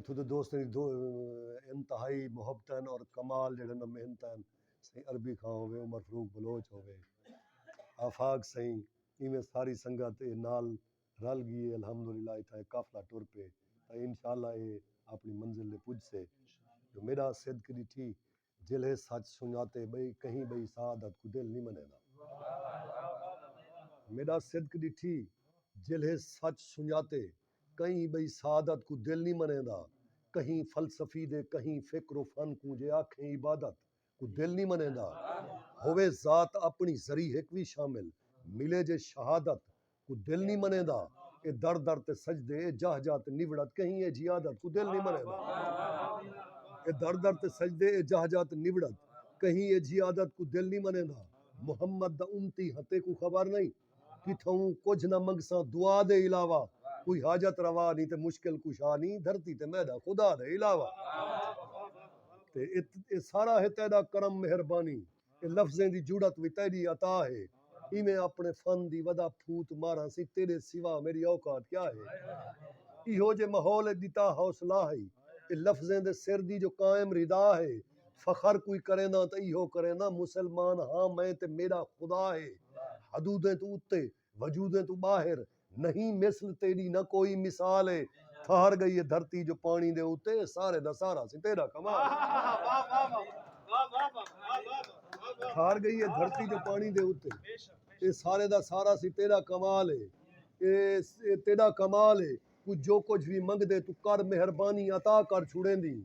اتھوں دے دوستاں دی انتہائی محبتاں ہن اور کمال جیڑھے انہاں محنتاں ہن سئیں عربی خاں ہووے عمر فروخ بلوچ ہووے آفاق سئیں ایویں ساری سنگت اے نال رل گی اے الحمدللہ اتھاں اے قافلہ ٹر پئے تاں انشاءاللہ اے آپنڑی منزل دے پجسے جو میڈا صدق ڈٹھی جیلھے سچ سنجاتے ٻئی کہیں ٻئی سعادت کوں دل نی منیندا میݙا صدق ݙٹھی جیلھے سچ سنجاتے کہیں ٻئی سعادت کوں دل نی منیندا کہیں فلسفی دے کہیں فکر و فن کوں جے آکھیں عبادت کوں دل نی منیندا ہووے ذات اپݨی ذری ہک وی شامل ملے جے شہادت کوں دل نی منیندا اے در در تے سجدے اے جاہ جاہ تے نوڑت کہیں اے جھی عادت کوں دل نی منیندا اے در در تے سجدے اے جاہ جاہ تے نوڑت کہیں اے جھی عادت کوں دل نی منیندا محمد دا امتی ہاں تیکوں خبر نئیں کتھاؤں کجھ نہ منگساں دعا دے علاوہ کوئی حاجت روا نی تے مشکل کشا نی دھرتی تے میڈا خدا دے علاوہ تے اے سارا ہے تیڈا کرم مہربانی۔ تے لفظیں دی جڑت وی تیݙی عطا ہے ایویں اپݨے فن دی ودا پھوت ماراںسی تیݙے سوا میݙی اوقات کیا ہے ایہو جے ماحول اچ ݙتا حوصلہ ہئی اے لفظیں دے سر دی جو قائم ردا ہے فخر کوئی کرینداں تاں ایہو کرینداں مسلمان ہاں میں تے میݙا خدا ہے حدودیں توں اتے وجودیں توں باہر نہیں مثل تیڈی نہ کوئی مثال ہے تھہر گئی ہے دھرتی جو پانی دے اتے سارے دا سارا سی تیرا کمال تھہر گئی ہے دھرتی جو پانی دے اتے اے سارے دا سارا سی تیرا کمال ہے اے تیرا کمال ہے کوں جو کجھ وی منگدیں توں کر مہربانی عطا کر چھوڑیندیں۔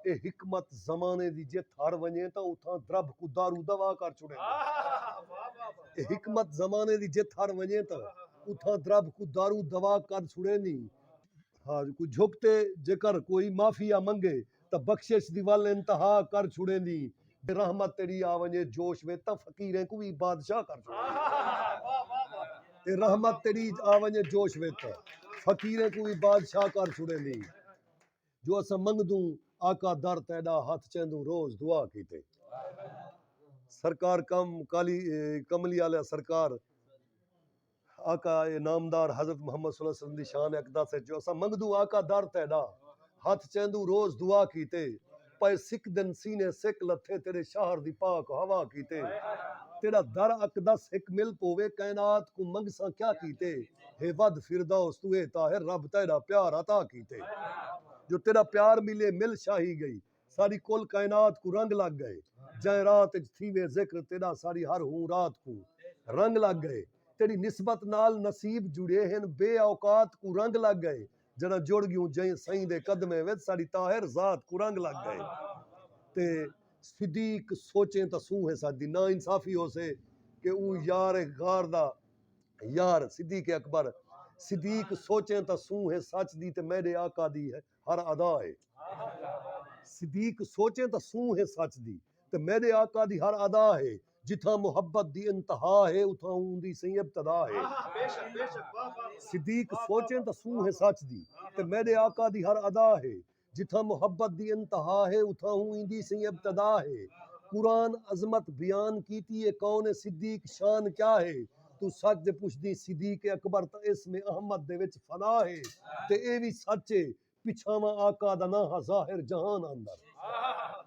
اے حکمت زمانے دی جت ہر ونجے تاں اتھاں درب کوں دارو دوا کر چھوڑیندیں۔ اے حکمت زمانے دی جت ہر ونجے تاں اتھاں درب کوں دارو دوا کر چھوڑیندیں۔ ہا کوں جھک تے جیکر کوئی معافیا منگے تاں بخشش دی ول انتہا کر چھوڑیندی جے رحمت تیݙی آ ونڄے جوش وچ تاں فقیریں کوں وی بادشاہ کر چھوڑیندی رحمت تیݙی آ ونڄے جوش وچ تاں فقیریں کوں وی بادشاہ کر چھوڑیندی جو اساں منگدوں آقا در تیݙا ہتھ چیندوں روز دعا کیتے سرکار کم کالی کملی آلیاں سرکار آقا اے نامدار حضرت محمد صلی اللہ علیہ وسلم دی شان اقدس اچ جو اساں منگدوں آقا در تیڈا ہتھ چیندوں روز دعا کیتے پئے سکدن سینے سک لتھے تیڈے شہر دی پاک ہوا کیتے تیڈا در اقدس ہک مل پووے کائنات کوں منگساں کیا کیتے ہے ودھ فردوس توں اے طاہر رب تیڈا پیار عطا کیتے جو تیڈا پیار ملے مل شاہی گئی۔ ساری کل کائنات کوں رنگ لگ گئے جئیں رات اچ تھیوے ذکر تیڈا ساری ہر ہوں رات کوں رنگ لگ گئے تیڈی نسبت نال نصیب جڑے ہن بے اوقات کوں رنگ لگ گئے جڈاں جڑ گیوں جئیں سئیں دے قدمیں وچ ساڈی طاہر ذات کوں رنگ لگ گئے تے صدیق سوچیں تاں سوں ہے ساڈی نا انصافی ہوسے کہ اوں یار غار دا یار صدیق اکبر صدیق سوچیں تاں سوں ہے سچ دی تے میڈے آقا دی ہے ہر ادا ہے۔ صدیق سوچیں تاں سوں ہے سچ دی تے میݙے آقا دی ہر ادا ہے۔ جتھاں محبت دی انتہا ہے اتھاں اوندی سئیں ابتدا ہے۔ صدیق سوچیں تاں سوں ہے سچ دی تے میݙے آقا دی ہر ادا ہے۔ جتھاں محبت دی انتہا ہے اتھاں اوندی سئیں ابتدا ہے۔ قرآن عظمت بیان کیتی ہے کون ہے صدیق شان کیا ہے۔ توں سچ دے پچھدیں صدیق اکبر تاں اسم احمد دے وچ فنا ہے تے ایہ وی سچ ہے پچھاواں آقا دا ناں ہا ظاہر جہان اندر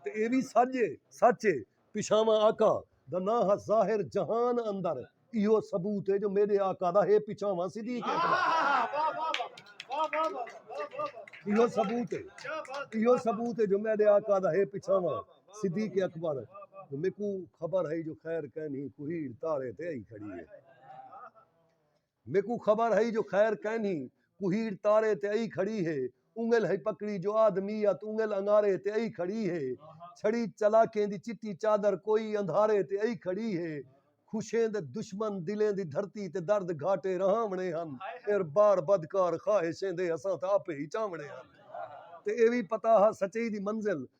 تے ایہ وی سچ ہے سچ ہے پچھاواں آقا دا ناں ہا ظاہر جہان اندر ایہو ثبوت ہے جو میݙے آقا دا ہے پچھاواں صدیق اکبر ایہو ثبوت ہے ایہو ثبوت ہے جو میݙے آقا دا ہے پچھاواں صدیق اکبر جو میکوں خبر ہئی جو خیر کینھی کوہیڑ تارے تے آئی کھڑی ہے میکوں خبر ہئی جو خیر کینھی کوہیڑ تارے تے آئی کھڑی ہے انگل ہئی پکڑی جو آدمیت انگل انگارے تے آئی کھڑی ہے چھڑی چلاکیں دی چٹی چادر کوئی اندھارے تے آئی کھڑی ہے خوشیں دے دشمن دلیں دی دھرتی تے درد گھاٹے رہاونے ہن ایر بار بدکار خواہشیں دے اساں تا آپے ہی چاونے ہن تے اے وی پتا ہا سچائی دی منزل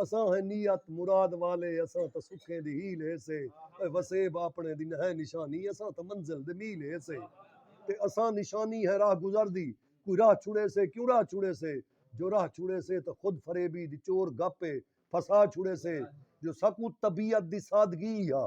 اساں ہیں نیت مراد والے اساں تاں سکھیں دی ہیل ہیسے اے وسیب آپنڑیں دی نہاں نشانی اساں تاں منزل دے میل ہیسے تے اساں نشانی ہیں راہ گزر دی کوئی راہ چھڑیسے کیوں راہ چھڑیسے جو راہ چھڑیسے تاں خود فریبی دی چور گپ اے پھسا چھڑیسے جو ساکوں طبیعت دی سادگی ہا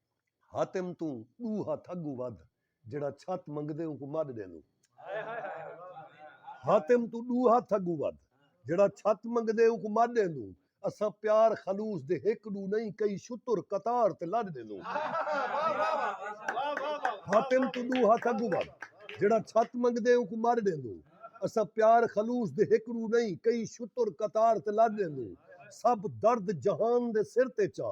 حاتم توں ݙو ہتھ اڳوں ودھ جیڑھا چھت منگدے اونکوں مݙ ݙیندوں۔ حاتم توں ݙو ہتھ اڳوں ودھ جیڑھا چھت منگدے اونکوں مݙ ݙیندوں اساں پیار خلوص دے ہک ݙو نئیں کئی شتر قطار تے لݙ ݙیندوں۔ حاتم توں ݙو ہتھ اڳوں ودھ جیڑھا چھت منگدے اونکوں مݙ ݙیندوں اساں پیار خلوص دے ہک ݙو نئیں کئی شتر قطار تے لݙ ݙیندوں سب درد جہان دے سر تے چا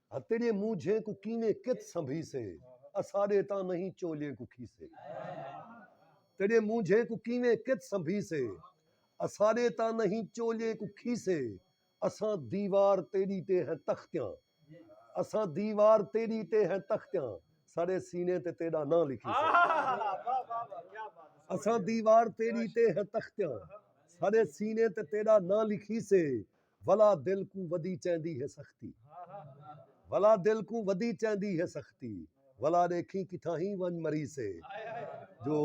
ہا تیݙیں مونجھیں کوں کیویں کت سنبھیسے اساݙے تاں نہیں چولیں کوں کھیسے تیݙیں مونجھیں کوں کیویں کت سنبھیسے اساݙے تاں نہیں چولیں کوں کھیسے اساں دیوار تیݙی تے ہیں تختیاں اساں دیوار تیݙی تے ہیں تختیاں ساݙے سینے تے تیݙا ناں لکھیسے اساں دیوار تیݙی تے ہیں تختیاں ساݙے سینے تے تیݙا ناں لکھیسے ولا دل کوں ودی چیندی ہے سختی ولا دل کوں ودی چیندی ہے سختی ولا ݙیکھیں کتھاہیں ونڄ مریسے جو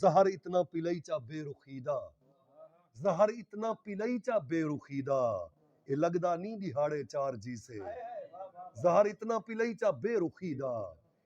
زہر اتنا پلئی چا بے رخی دا زہر اتنا پلئی چا بے رخی دا اے لڳدا نی ݙیہاڑے چار جیسے زہر اتنا پلئی چا بے رخی دا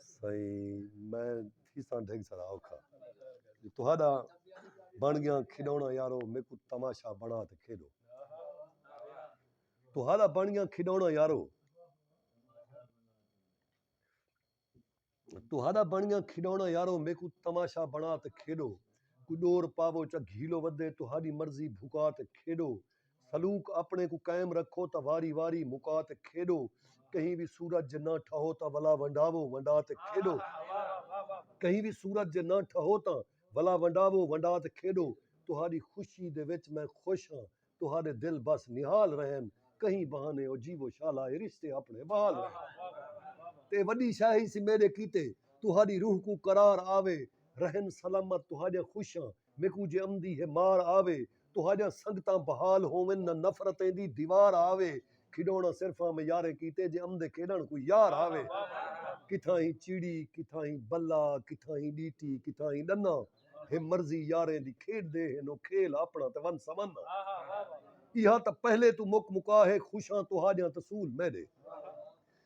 سائیں میں تھیساں ڈھنگ سرا اوکھا جو تہاڈا بن گیاں کھڈونڑا یارو میکوں تماشا بنا تے کھیڈو تہاڈا بن گیاں کھڈونڑا یارو تہاڈا بن گیاں کھڈونڑا یارو میکوں تماشا بنا تے کھیڈو کوئی ڈور پاوو چا گھیلو ودے تہاڈی مرضی بھکا تے کھیڈو سلوک اپݨے کوں قائم رکھو تاں واری واری مکا تے کھیݙو کہیں وی صورت جے نہ ٹھہو تاں ولا ونڈاوو ونڈا تے کھیݙو کہیں وی صورت جے نہ ٹھہو تاں ولا ونڈاوو ونڈا تے کھیݙو تہاݙی خوشی دے وچ میں خوش ہاں تہاݙے دل بس نہال رہن کہیں بہانے او جیوو شالا اے رشتے اپݨے بحال رہن تے وݙی شے ہیسی میݙے کیتے تہاݙی روح کوں قرار آوے رہن سلامت تہاݙیاں خوشیاں میکوں جے امدی ہے مار آوے۔ تہاݙیاں سنگتاں بحال ہوون نہ نفرتیں دی دیوار آوے۔ کھیݙوݨاں صرف آں میں یاریں کیتے جے امدے کھیݙݨ کوئی یار آوے۔ کتھاں ہی چڑی کتھاں ہی بلا کتھاں ہی ݙیٹی کتھاں ہی ݙنا۔ ہے مرضی یاریں دی کھیݙدے ہن او کھیل آپݨا تے ون سون آں۔ ایہا تاں پہلے توں مک مکا ہے خوشاں تہاݙیاں تسول میݙے۔